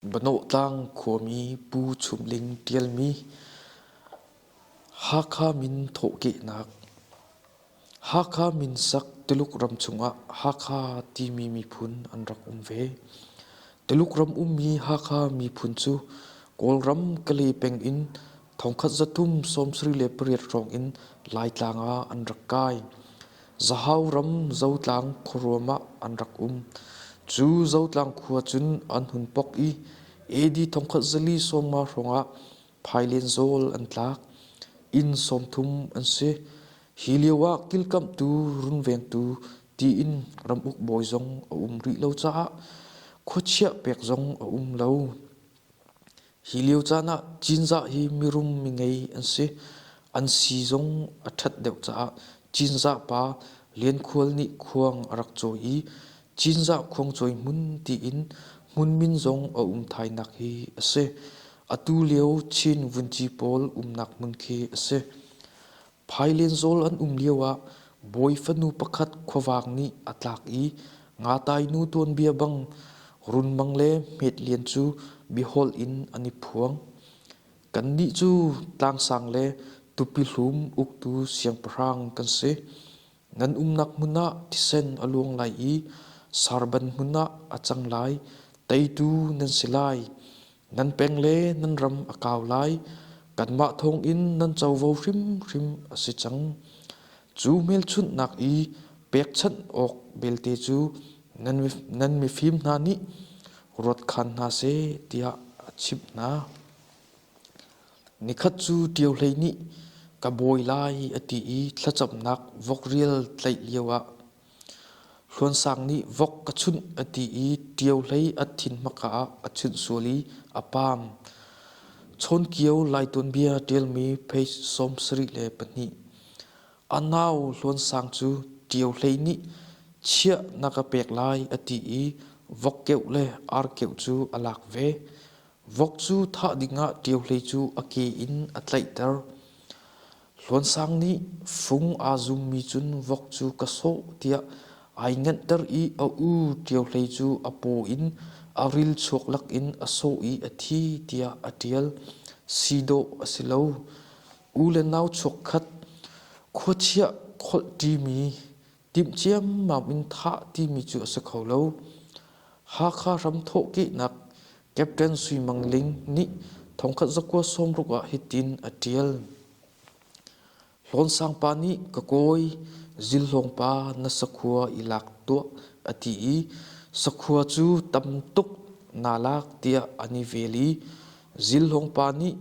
Banawhtlang khuami Pu Chum Ling ṭialmi Hakha min thawhkehnak Hakha min sak Tuluk ram chungah Hakha timi miphun an rak um ve. Tuluk ram ummi Hakha miphun cu Kawlram Kale peng in Thongkhat zathum sawmsarih le pariat hrawng in Laitlang ah an rak kai. Zahau ram Zotlang khuaruam ah an rak um. Cu Zotlang khua cun an hun pok i AD thongkhat zali sawmnga hrawng ah phailen zawl an tlak. Inn sawmthum an si. Hi lio ah kilkamhtu runvengtu tiin ramuk bawi zong a um rih lo caah khuachiah pek zong a um lo. Hi lio caan ah Cinzah hi mirum mingei an si. An si zong a ṭhat deuh caah Cinzah pa Lian Khual nih khuang a rak cawi i Cinzah khuangcawi hmun tiin hmun min zong a um thainak hi a si. Atu lio Chin vunci pawl umnak hmun khi a si. Phailenzawl an um lioah bawi fanu pakhat khuavang nih a tlak i ngatainu tuanbia bang runmang le hmetlian cu biaholh in an i phuang. Kannih cu tlangsang le tupihlum uktu siangpahrang kan si. Nan umnak hmun ah thisen a luang lai i sarban hmun ah a cang lai, teitu nan si lai. Nan peng le nan ram a kau lai, kanmah thawngin nan covo hrimhrim a si cang. Cu hmelchunhnak i pekchanh awk belte cu nan mifim hna nih ruat khan hna seh, tiah a chimh hna. Nikhat cu Ṭio Hlei nih ka bawi lai a ti i thlacamnak vok rial tlaih lioah Hluan Sang nih vok ka chunh a ti i Ṭio Hlei a thin hmaka ah a chunh sual i a paang. Chawnkio Lai tuanbia ṭialmi page sawm sarih le pahnih A nau Hluan Sang cu Ṭio Hlei nih chiah na ka pek lai a ti i vok keuh le ar keuh cu a lak ve. Vok cu thah dingah ṭiohlei cu a ke in a tlaihter. Hluansang nih fung aa zummi cun vok cu ka sawh tiah ai nganhter i a u ṭiohlei cu a paw in a ril chuak lakin a sawh i a thi tiah a ṭial. Si dawh a si lo. U le nau chuakkhat, khuachiah kholh ṭimi, Timh ciammam in thah timi cu a si kho lo. Hakha hramthawhkehnak Captain Sui Mang Ling nih thongkhat zakua sawmruk ah hitin a ṭial. Hlawnsang pa nih ka kawi Zilhlawng pa na sakhua i lak tuah a ti i sakhua cu tam tuk naa lak tiah an i vel i Zilhung pa nih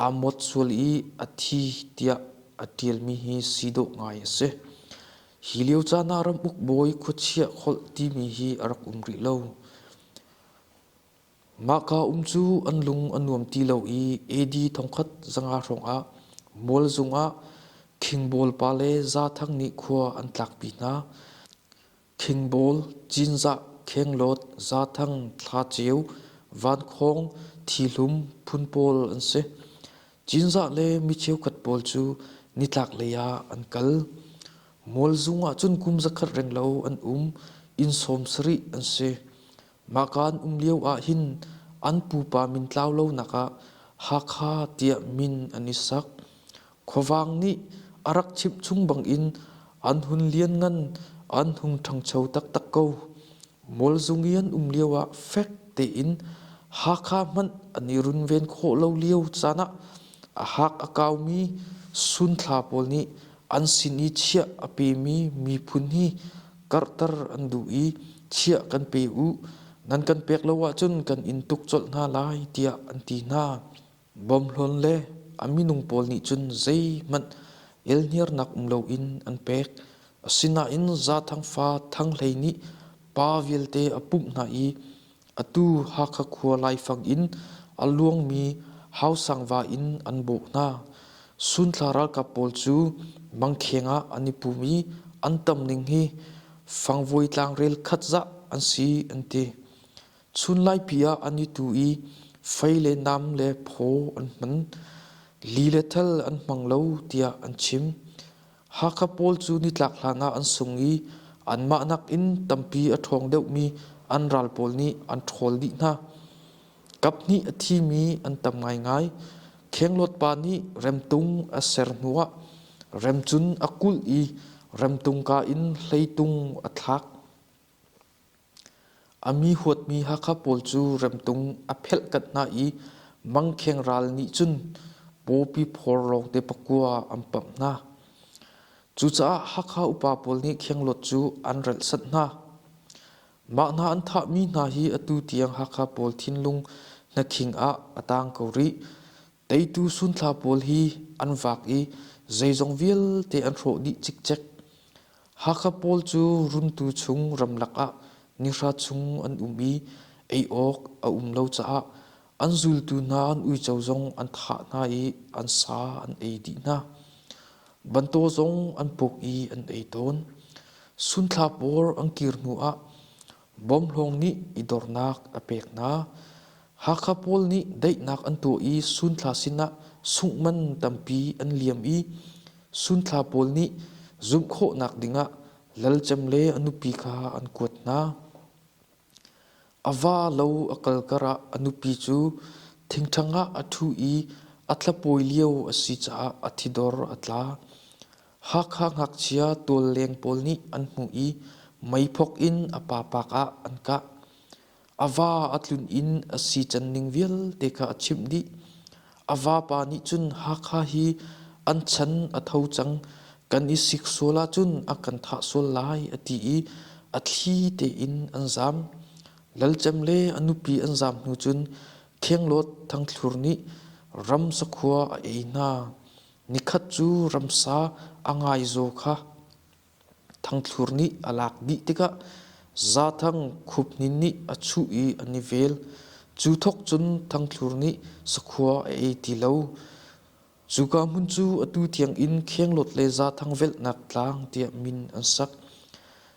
aa muat sual i a thi tiah a ṭialmi hi si dawh ngai a si. Hi lio caan ah ramuk bawi khuachia holh timi hi a rak um rih lo. Mahka um cu an lung a nuam ti lo i AD thongkhat zanga hrawngah mual zungah khingbawl pa le za thang nih khua an tlakpi hna. Thingbawl, Cinzah, Khenglawt, Zathang, Thlaceu, Vankhawng, Thihlum phun pawl an si. Cinzah le mi cheukhat pawl cu nitlaklei ah an kal. Mualzung ahcun kum zakhat reng lo an um. Inn sawm sarih an si. Mahka an um lio ahhin an pupa min tlau lonak ah Hakha tiah min an i sak. Khuavang nih a rak chimhchung bangin an hun lianngan an hung ṭhangcho taktak ko. Mualzung i an um lioah fek tein Hakha hmanh an i runven khawh lo lio caan ah a hak a kaumi sunthla pawl nih an sin i chiah a pemi miphun hi karhter an duh i chiah kan pe u, nan kan pek lo ahcun kan in tuk colh hna lai tiah an ti hna. Bawmhlawn le a minung pawl nih cun zeihmanh elhniarnak um loin an pek. Asinain Zathang fa Thang Hlei nih pa vialte a pumh hna i atu Hakha khua laifang in a luangmi Hausangva in an bawh hna. Sunthla ralkap pawl cu mangkheng ah an i pum i an tam ning hi fangvuai tlang rel khat zah an si an ti. Chunlaipi ah an i tu i fei le nam le phaw an hman, li le thal an hmang lo tiah an chim. Hakha pawl cu nitlak hlanah an sung i anmah nakin tampi a ṭhawng deuhmi an ral pawl nih an ṭhawl dih hna. Kaphnih a thimi an tam ngaingai. Khenglawt pa nih remtung a ser hnuah remcun a kulh i remtungka in hleitung a thlak. A mi huatmi Hakha pawl cu remtung a phelhkanh hna i mangkheng ral nih cun pawpi phor lawngte pakua an pamh hna. Cucaah Hakha upa pawl nih khenglawt cu an relhsanh hna. Mah hna an thahmi hna hi atu tiang Hakha pawl thinlung hnakhing ah a tang ko rih. Teitu sunthla pawl hi an vak i zeizong vialte an hrawh dih cikcek. Hakha pawl cu runtu chung ramlak ah nihra chung an um i ei awk a um lo caah an zultu hna an uico zong an thah hna i an sa an ei dih hna. Bantaw zong an puk i an ei tawn. Sunthla pawl an kir hnu ah Bawmhlawng nih i dornak a pek hna. Hakha pawl nih daihnak an tuah i sunthla sinah sungh man tampi an liam i sunthla pawl nih zumh khawhnak dingah lalcem le a nupi kha an kuat hna. A va lo a kal karah a nupi cu thingṭhang ah a ṭhu i a thlapawi lio a si caah a thidor a tla. Hakha ngakchia tualleng pawl nih an hmuh i meiphok in a papak ah an kah. A va a tlun in a si canning vialte kha a chimh dih. A vapa nih cun Hakha hi an chan a tho cang. Kan i sik sual ahcun a kan thah sual lai a ti i a thli tein an zaam. Lalcem le a nupi an zaam hnu cun Thengluat Thangthlur nih ram sakhua a ei hna. Nikhat cu ramsa a ngaizaw kha thangthlur nih a lak dih tikah Zathang Khuphnin nih a chuh i an i vel. Cu thawk cun thangthlur nih sakhua a ei ti lo. Cuka hmun cu atu tiangin Khenglawt le Zathang velhnak tlang tiah min an sak.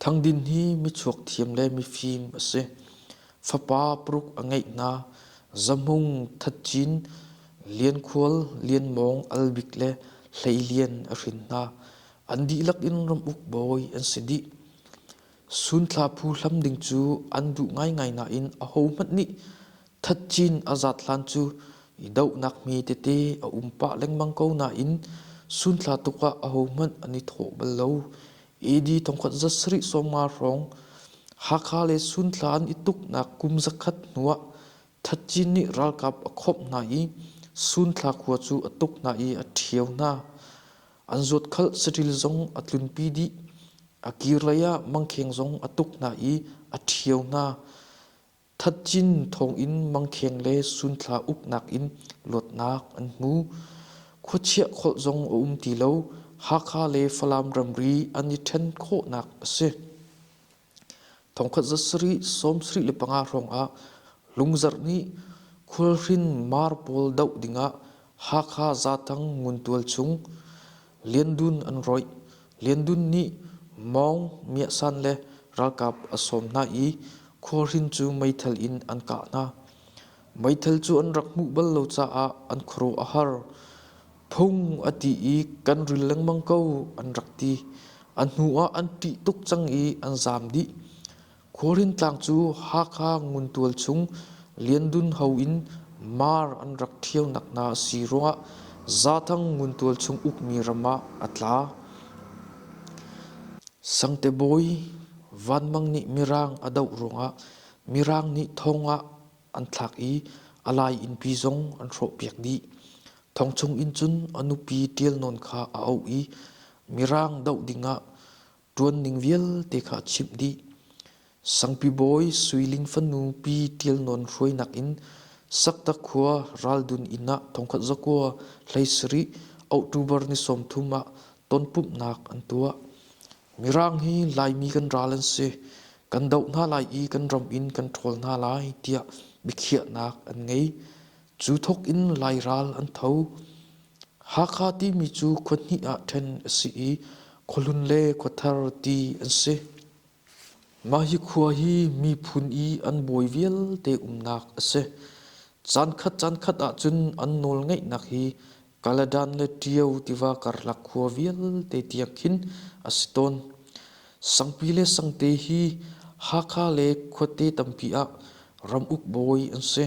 Thang Din hi michuak thiam le mifim a si. Fapa paruk a ngeih hna. Zamung, Thatcin, Liankhual, Lianmawng, Albik le Hlei Lian a hrin hna. An dihlak in ramuk bawi an si dih. Sunthla phu hlam ding cu an duh ngaingai nain ahohmanh nih Thatcin a zat hlan cu i dohnak hme tete a um pah lengmang ko nain sunthla tuk ah ahohmanh an i thawh bal lo. AD thongkhat za sarih sawmnga hrawng Hakha le Sunthla an i tuknak kum zakhat hnuah Thatcin nih ralkap a khawmh hna i Sunthla khua cu a tuk hna i a ṭhio hna. An zuatkhalh saṭil zong a tlunpi dih. A kir lei ah mangkheng zong a tuk hna i a ṭhio hna. Thatcin thawngin mangkheng le sunthla uknak in luatnak an hmu. Khuachiah kholh zong a um ti lo. Hakha le Falam ramri an i ṭhen khawhnak a si. Thongkhat za sarih, sawm sarih le panga hrawngah Lungzarh nih Khualhrin mar pawl doh dingah Hakha Zatang Nguntual chung Liandun an rawih. Liandun nih Maung Myasan le ralkap a sawm hna i khualhrin cu meithal in an kah hna. Meithal cu an rak hmuh bal lo caah an khuaruah a har. Phung a ti i kan ril lengmang ko an rak ti. A hnuah an ṭih tuk cang i an zaam dih. Korin tlang cu Hakha nguntual chung Liandun ho in mar an rak ṭhionak hna a si ruangah Zathang nguntual chung ukmi ram ah a tla. Sangte Bawi Vanmang nih Mirang a doh ruangah Mirang nih thong ah an thlak i a lai innpi zong an hrawhpiak dih. Thong chung in cun a nupi ṭial nawn kha a auh i Mirang doh dingah ṭuan ning vialte kha a chimh dih. Sangpi bawi Suiling fanu Pi Ṭial Nawn hruainak in Saktak khua Raldun inn ah thongkhat zakua hlei sarih October ni sawmthum ah tonpumhnak an tuah. Mirang hi Laimi kan ral an si. Kan doh hna lai i kan ram in kan ṭhawl hna lai tiah biakhiahnak an ngei. Cu thok in Lai ral an tho. Hakha timi cu khua hnih ah ṭhen a si i khualun le khuathar ti an si. Mah hi khua hi miphun i an bawi vialte umnak a si. Caankhat caankhat ahcun an nawlngeihnak hi Kaladan le Ṭio tiva karlak khua vialte tiang khin a si tawn. Sangpi le sangte hi Hakha le khuate tampi ah ram uk bawi an si.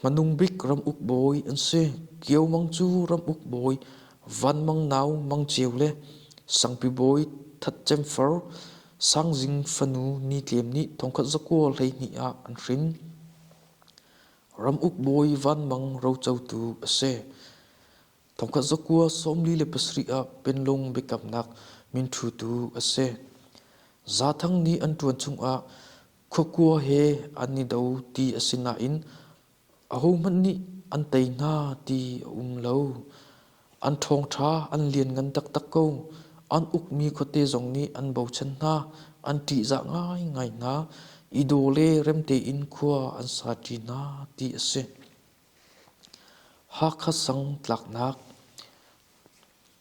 Hmanung bik ramuk bawi an si. Kio Mang cu ramuk bawi, Van Mang nau Mang Ceu le sangpi bawi That Cem Far, Sang Zing fanu Ni Tlem nih thongkhat zakua hleihnih ah an hrin. Ramuk bawi Van Mang rocotu a si. Thongkhat zakua sawmli le pasarih ah penlung biakamnak minthutu a si. Za Thang nih an ṭuan chungah Khukua he an i do ti a si nain ahohmanh nih an tei hna ti a um lo. An ṭhawngṭha an lianngan taktak ko. An ukmi khuate zong nih an bochan hna, an ṭihzah ngaingai hna i daw le remte in khua an saṭi hna ti a si. Hakha sang tlaknak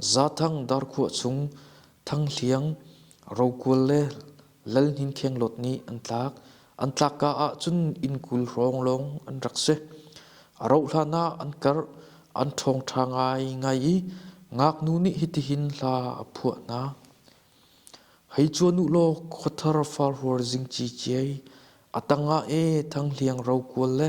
Zathang Darkhuah chung Thang Hliang, Rokual le Lal Hnin Khenglawt nih an tlak. An tlakka ah cun inn kul hrawng an rak si. A rauh hlan ah an karh, an ṭhawngṭha ngaingai i ngaknu nih hitihin hla a phuah hna. Hei cuan u law khuathar farhuar zingci ciai, a tangah e Thang Hliang Rokual le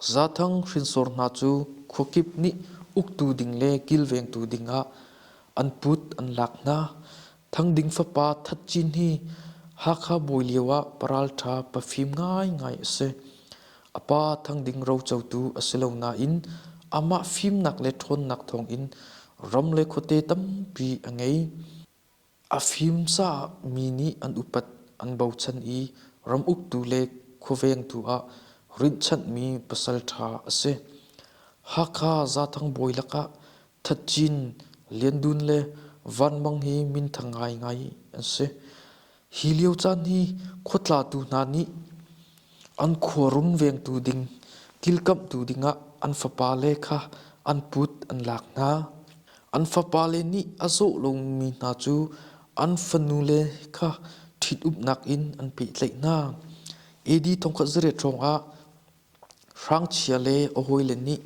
Zathang hrinsor hna cu khuakip nih uktu ding le kilvengtu dingah an put an lak hna. Thang Ding fapa That Cin hi Hakha bawi lioah paralṭha pafim ngaingai a si. A pa Thang Ding rocotu a si lo nain amah fimnak le ṭhawnnak thawngin ram le khuate tampi a ngei. A fim caah mi nih an upat an bochan i ram uktu le khuavengtu ah rinhchanhmi pasalṭha a si. Hakha Zathang bawi lakah Thatcin, Lian Dun le Van Mang hi minthang ngaingai an si. Hi lio caan hi khua tlatu hna nih An khuarum vengtu ding kilkamhtu dingah an fapale kha an put an lak hna. An fapale nih a zaw lomi hna cu an fanule kha ṭhitumnak in an pehtlaih hna. AD thongkhat zarep hrawngah hrangchia le a hawile nih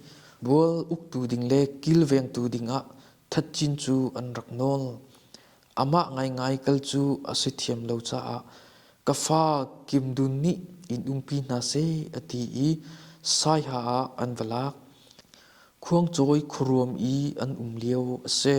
bual uktu ding le kilvengtu dingah thatcin cu an rak nawl. Amah ngaingai kal cu a si thiam lo caah ka fa Kim Dun nih in umpi hna seh a ti i Saiha ah an va lak. Khuangcawi khuaruam i an um lio a si.